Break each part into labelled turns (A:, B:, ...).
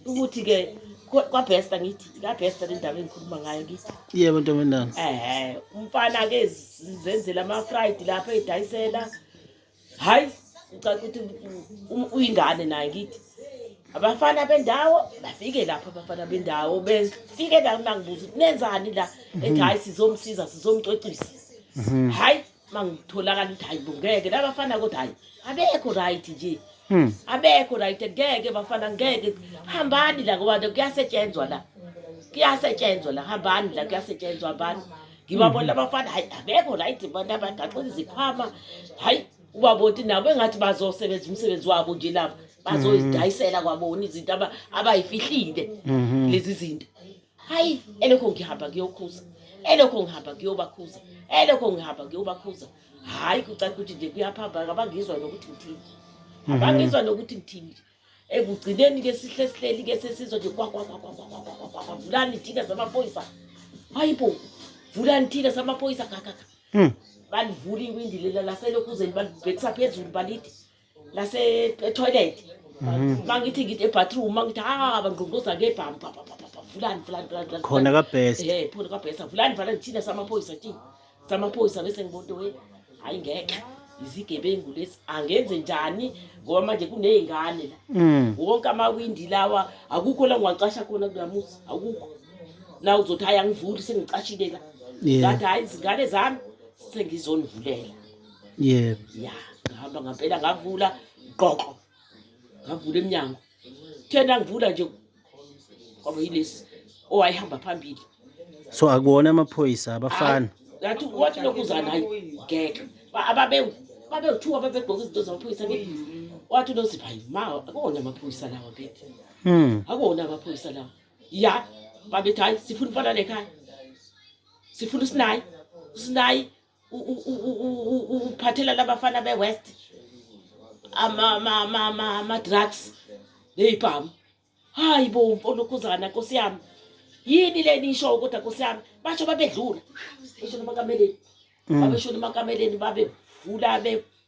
A: ukuthi ke kwabhesta ngithi ikabhesta le ndaba engikhuluma ngayo ngithi yebo ntombendana
B: ehe umfana
A: ke zenzela ama-fried lapho edayisela hhayi ngicala ukuthi uyingane naye ngithi abafana bendawo bafike lapho abafana bendawo befike la nangibuza ukuthi nenzani la ethi hhayi sizomsiza sizomcwecisa mhm. hhayi uma ngitholakala ukuthi hayi bo ngeke labafana kodwa hayi abekho right nje hmm. abekho right ngeke bafana ngeke hambani la ngoba kuyasetshenzwa la kuyasetshenzwa la hambani la kuyasetshenzwa hambani ngibabona hmm. abafana hayi abekho right bona bagaxela izikhwama hayi ubaboti nabo engathi bazosebenza umsebenzi wabo nje lapho bazoyidayisela kwabona izinto abayifihlile mhm. lezi zinto hayi elokho ngihamba kuyokhuza elokho ngihamba kuyobakhuza elokho ngihamba kuyobakhuza hhayi kucaca ukuthi nje kuyaphamba abangizwa nokuthi ngithini mhm. abangizwa nokuthi ngithini ekugcineni-ke sihle sihleli-ke sesizwa nje kwakwakwakwakwakwakwakwavulani thina samaphoyisa hayi bo vulani thina samaphoyisa kakaka hmm. balivula iwindi lela laselokhuzeni balibhekisa phezulu balithi ngase etoilet mangithi ngithi ebathroom mangithi ha bangqongqoza ngebham vulani vulani vulani khona
B: kabest eh khona kabest vulani
A: vulani thina samaphoyisa thina samaphoyisa bese ngibonto we hayi ngeke izigebengu lesi angenze njani ngoba manje kuneyingane la mm. wonke amawindi lawa akukho la ngiwacasha khona kulamusa akukho na uzothi hayi angivuli sengicashile la ngathi hayi izingane zami sengizonivulela
B: yebo ya ngihamba
A: ngampela ngavula qoqo ngavula emnyango thena ngivula nje kwaba yilesi owayehamba phambili so akuwona
B: amaphoyisa abafana ngathi wathi
A: lokuza naye ngeke Ba- ababe babewuthiwa babegqoka izinto zamaphoyisa ke wathi unozipha yini ma akuwona amaphoyisa lawa bethe hmm akuwona amaphoyisa lawa ya babethi hayi sifuna umfana lekhaya sifuna usinayi usinayi uphathela labafana be-west ama-drugs neyibhamu hayi bo olokhuzana nkosi yami yini le nisho kodwa nkosi yami basho babedlula esho nomakameleni mm. babesho nomakameleni babevula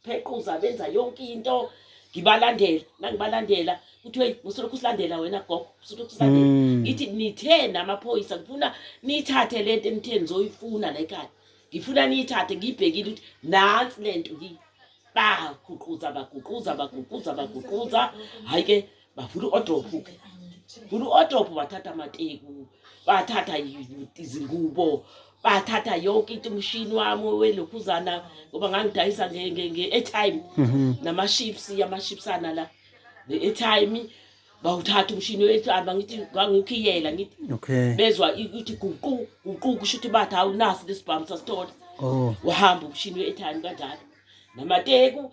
A: phequza benza yonke into ngibalandela nangibalandela kuthiwe usolokhu usilandela wena gogo usolokhu usilandela mm. ngithi nithe namaphoyisa ngifuna niyithathe le nto enithe nizoyifuna la ekhaya ngifuna niyithathe ngiyibhekile ukuthi nansi le nto baguquza baguquza baguquza baguquza hhayi ke bavula u-odophu ke vula u-odophu bathatha amateku bathatha izingubo bathatha yonke into umshini wami welokhuzana ngoba ngangidayisa nge-airtime mhm. nama-ships ama-shipsana la ne-airtime bawuthatha umshini wetshamba ngithi ngangikhiyela ngithi okay bezwa ukuthi guqu guqu kusho ukuthi bathi awunasi lesibhamu sasithola oh wahamba umshini wetshamba kanjalo namateku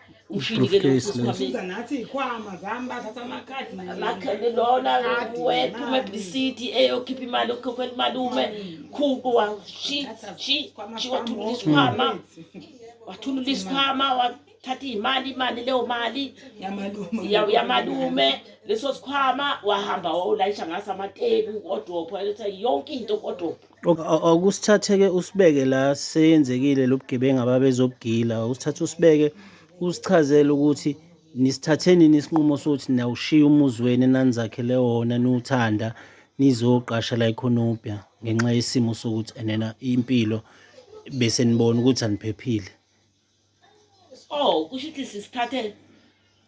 A: ushindikelesuza nathi
C: iy'khwama zami bathatha amakhadi amakhadi lona
A: wethu umebhisidi eyokhipha imali okukhokhela imalume khuku wathulula isikhwama wathulula isikhwama wathatha iy'mali imali leyo mali yamalume leso sikhwama wahamba wawulayisha ngaso amateku kodwa yonke into kodwa Akusithathe-ke
B: usibeke la seyenzekile lo bugebengu ababezobugila, usithathe usibeke usichazele ukuthi nisithathe nini isinqumo sokuthi nawushiya umuzi wenu enanizakhele wona niwuthanda nizoqasha la ekhonobia ngenxa yesimo sokuthi enena impilo bese nibona ukuthi aniphephile. oh
A: kusho ukuthi sisithathe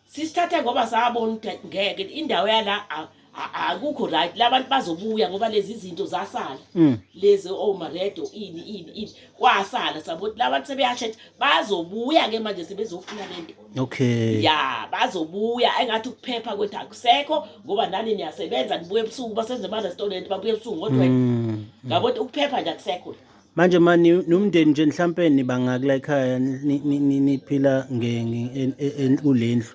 A: sisithathe ngoba sabona ukuthi ngeke indawo yala akukho right labantu bazobuya ngoba lezi zinto zasala mm. lezi omaredo oh, ini ini ini kwasala sabothi labantu sebeyasho ukuthi bazobuya ke manje sebezofuna lento okay ya bazobuya engathi ukuphepha kwethu akusekho ngoba nani niyasebenza nibuye ebusuku basenze ama-restaurant babuye ebusuku ngo-12 mm. ngabo ukuthi ukuphepha nje akusekho manje ma
B: nomndeni nje mhlampe nibangakula ekhaya niphila kulendlu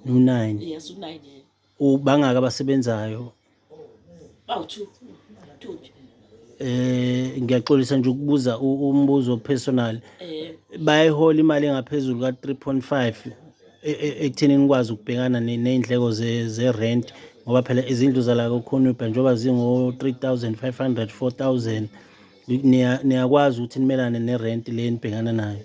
B: unine
A: ubangaka
B: abasebenzayo
A: bawu-two
B: two nje Eh ngiyaxolisa nje ukubuza umbuzo personal. Eh. Bayihola imali engaphezulu ka 3.5 e, e, ekutheni nikwazi ukubhekana nezindleko ze ze rent ngoba phela izindlu zala kokhonubha njengoba zingo 3500 4000 niyakwazi ukuthi nimelane ne rent le nibhekana nayo.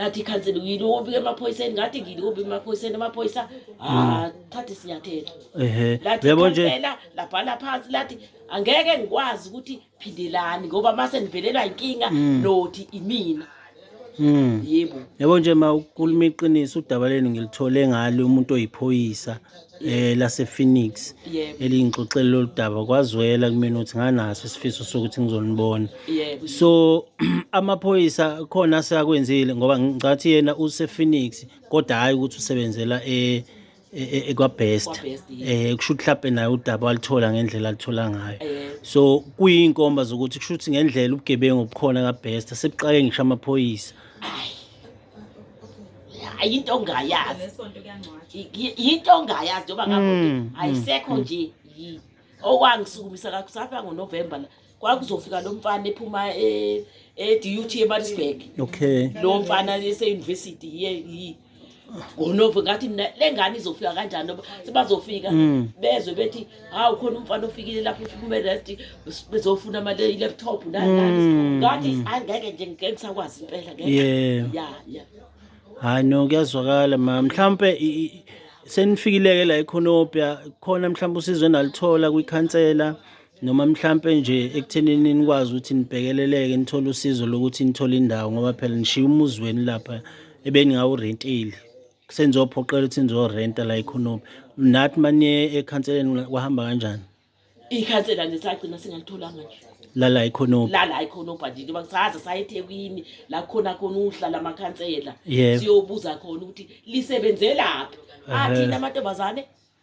A: ngathi ikhansela yini obike emaphoyiseni ngathi ngini obi emaphoyiseni amaphoyisa ah thatha isinyathelo ehe yebo nje
B: labhala
A: phansi lathi angeke ngikwazi ukuthi phindelani ngoba mase nivelelwa inkinga mm. nothi imina mm. yebo yebo nje ma
B: ukhuluma iqiniso udaba lenu ngilithole ngalo umuntu oyiphoyisa eh lasePhoenix Yebo. elingixoxele
A: lolu daba
B: kwazwela kumina ukuthi nganaso isifiso sokuthi ngizonibona Yebo. so amaphoyisa khona aseyakwenzile ngoba ngicathi yena usePhoenix kodwa hhayi ukuthi usebenzela e- e- e- ekwabest KwaBest, eh
A: kusho ukuthi mhlawumbe naye
B: udaba walithola ngendlela alithola ngayo Eh, so
A: kuyinkomba
B: zokuthi kusho ukuthi ngendlela ubugebengu obukhona kabest sebuqale ngisho amaphoyisa
A: hayi into ongayazi
D: Ngesonto kuyangcwatshwa. Y-
A: yinto ongayazi njengoba Mm, ngabo ayisekho mm, nje yi- okwangisukumisa la kusafika ngonovemba la kwakuzofika lo mfana ephuma e- edut emalisburg okay lo
B: mfana
A: eseyunivesithi ye yi ngonovo ngathi mina le ngane izofika kanjani noba sebazofika Mm. bezwe bethi hawu khona umfana ofikile lapho ufika umerest bezofuna ama laptop nani ngathi mm. angeke nje ngeke ngisakwazi impela ngeke yeah yeah
B: yeah
A: hayi no
B: kuyazwakala ma mhlambe senifikileke la ekhonopya khona mhlambe usizo enalithola kwikhansela noma mhlampe nje ekuthenini nikwazi ukuthi nibhekeleleke nithole usizo lokuthi nithole indawo ngoba phela nishiya umuzi weni lapha ebengingawurentile Senizophoqela ukuthi nizorenta la ekhononi. Nathi manye ekhanseleni kwahamba kanjani? Ikhansela
A: nje sagcina singalitholanga nje. Lala ekhononi.
B: Lala ekhononi nje ngoba
A: saze saye eThekwini la khona khona uhlala amakhansela. Siyobuza
B: khona ukuthi
A: lisebenzelaphi. Athina amantombazane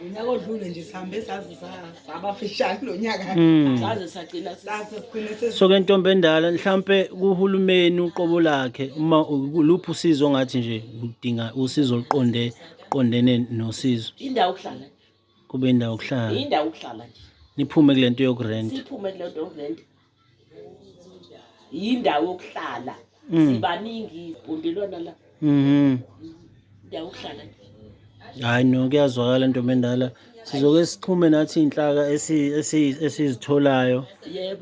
C: unyaka odlule nje sihambe saze sabafishane lo nyaka
A: hmm. saze sagcina so
C: ke ntombi endala
B: mhlampe kuhulumeni uqobo lakhe uma luphi usizo ngathi nje udinga usizo oluqonde qondene nosizo indawo okuhlala
A: kube indawo
B: okuhlala indawo okuhlala nje
A: niphume kule nto
B: yokurenta siphume kule nto yokurenta
A: yindawo yokuhlala mm. sibaningi ibhundelwana la mhm indawo yokuhlala hayi no
B: kuyazwakala ntombi endala sizoke sixhume nathi inhlaka esizitholayo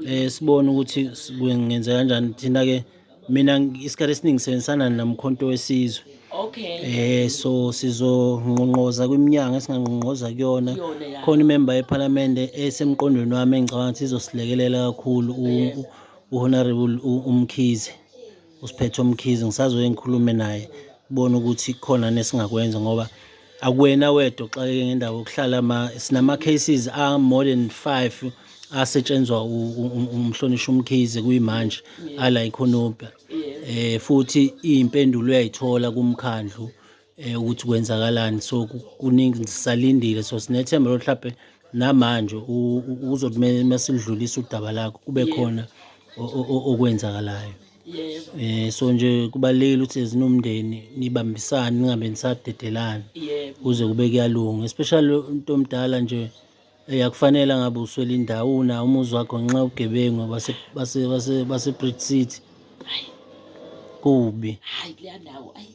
B: eh
A: sibone ukuthi
B: kwengenza kanjani thina ke Mina isikhathi esiningi sisebenzisana nomkhonto wesizwe. Okay. Eh
A: so
B: sizongqongqoza kwiminyango esingangqongqoza kuyona. Yona ya. Khona imemba
A: yePhalamende
B: esemqondweni wami engicabanga ukuthi izosilekelela kakhulu Yes. u- uHonorable u- uMkhize. Usiphethe uMkhize ngisazoye ngikhulume naye kubona ukuthi khona nesingakwenza ngoba Akuwena wedwa oxakeke ngendawo yokuhlala ma sinama cases a more than 5 asetshenzwa umhlonishwa umkhize kuyimanje ala ikhonobha eh futhi impendulo uyayithola kumkhandlu eh ukuthi kwenzakalani so kuningi sisalindile so sinethemba lo mhlawumbe namanje uzothi masilidlulisa udaba lakho kube khona okwenzakalayo
A: Yebo. Eh so nje
B: kubalekile ukuthi ezinomndeni nibambisane ningabe nisadedelana. Yebo. Kuze kube
A: kuyalunga
B: especially umuntu omdala nje eyakufanele ngabe uswela indawo una umuzi wakho ngenxa yobugebengu base base base base Brit City. Kubi. Hayi kuleya ndawo ayi.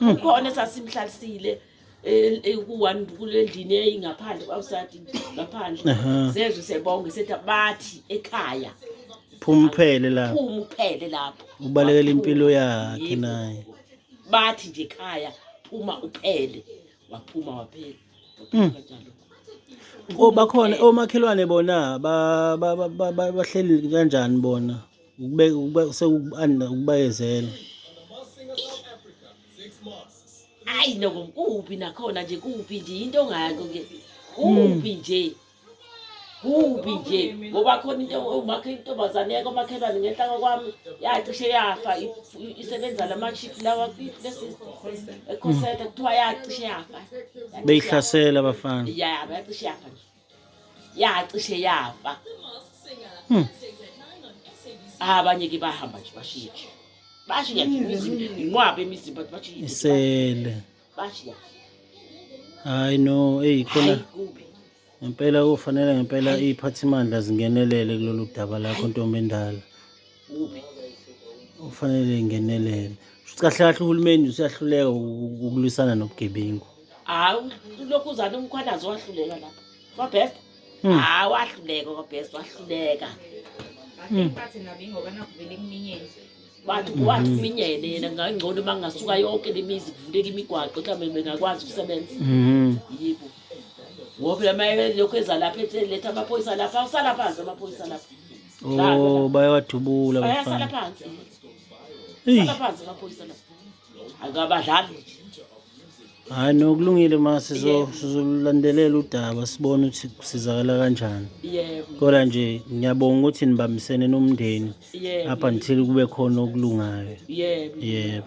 D: ukhona
A: esasimhlalisile e- e- ku-one kule ndini eyingaphandle kwawusati ngaphandle Aha. zezwe sebonge sethi bathi ekhaya phuma
B: uphele la phuma uphele lapho
A: ubalekela Waphuma. impilo
B: yakhe Yebo. naye bathi nje
A: ekhaya phuma uphele waphuma waphela Waphuma Mm. kanjalo.
B: o bakhona omakhelwane bona ba- ba- ba- ba- ba- bahleli kanjani bona ukubayezela
A: hayi noko kuphi nakhona nje kuphi nje into ongako ke kuphi hmm. nje kuphi nje ngoba khona into umakhe intombazane yake omakhelwane ngenhla kwakwami yacishe yafa isebenza lama-chip lawa ekhoseta kuthiwa yacishe yafa beyihlasela
B: abafana ya yacishe yafa
A: nje yacishe yafa hmm. ah, abanye ke bahamba nje bashiye nje bashiya nje imizimba inqwaba emizimba bashiye isele
B: bashiya hayi no eyi khona
A: ngempela
B: kufanele ngempela iy'phathimandla zingenelele kulolu daba lakho ntombendala
A: kuphi
B: okufanele ingenelele shuthi kahle kahle uhulumeni useyahluleka ukulwisana nobugebengu hawu
A: lokhu uzana umkhwanazi wahluleka lapho kwabest hmm. hawu wahluleka kwabest wahluleka hmm. bathi
D: nabi ngoba nakuvele kuminyeni bathi hmm. wathi
A: kuminyene yena ngangcono uma ngingasuka yonke le mizi kuvuleka imigwaqo mhlawumbe bengakwazi ukusebenza yibo ngoba phela uma lokhu eza lapha ethi letha amaphoyisa lapha awusalaphansi amaphoyisa lapha Oh,
B: bayawadubula
A: bafana. Hayi
B: nokulungile ma sizolandelela udaba sibone ukuthi kusizakala kanjani. Kodwa
A: nje
B: ngiyabonga ukuthi nibambisene nomndeni up until
A: kube khona
B: okulungayo. Yebo.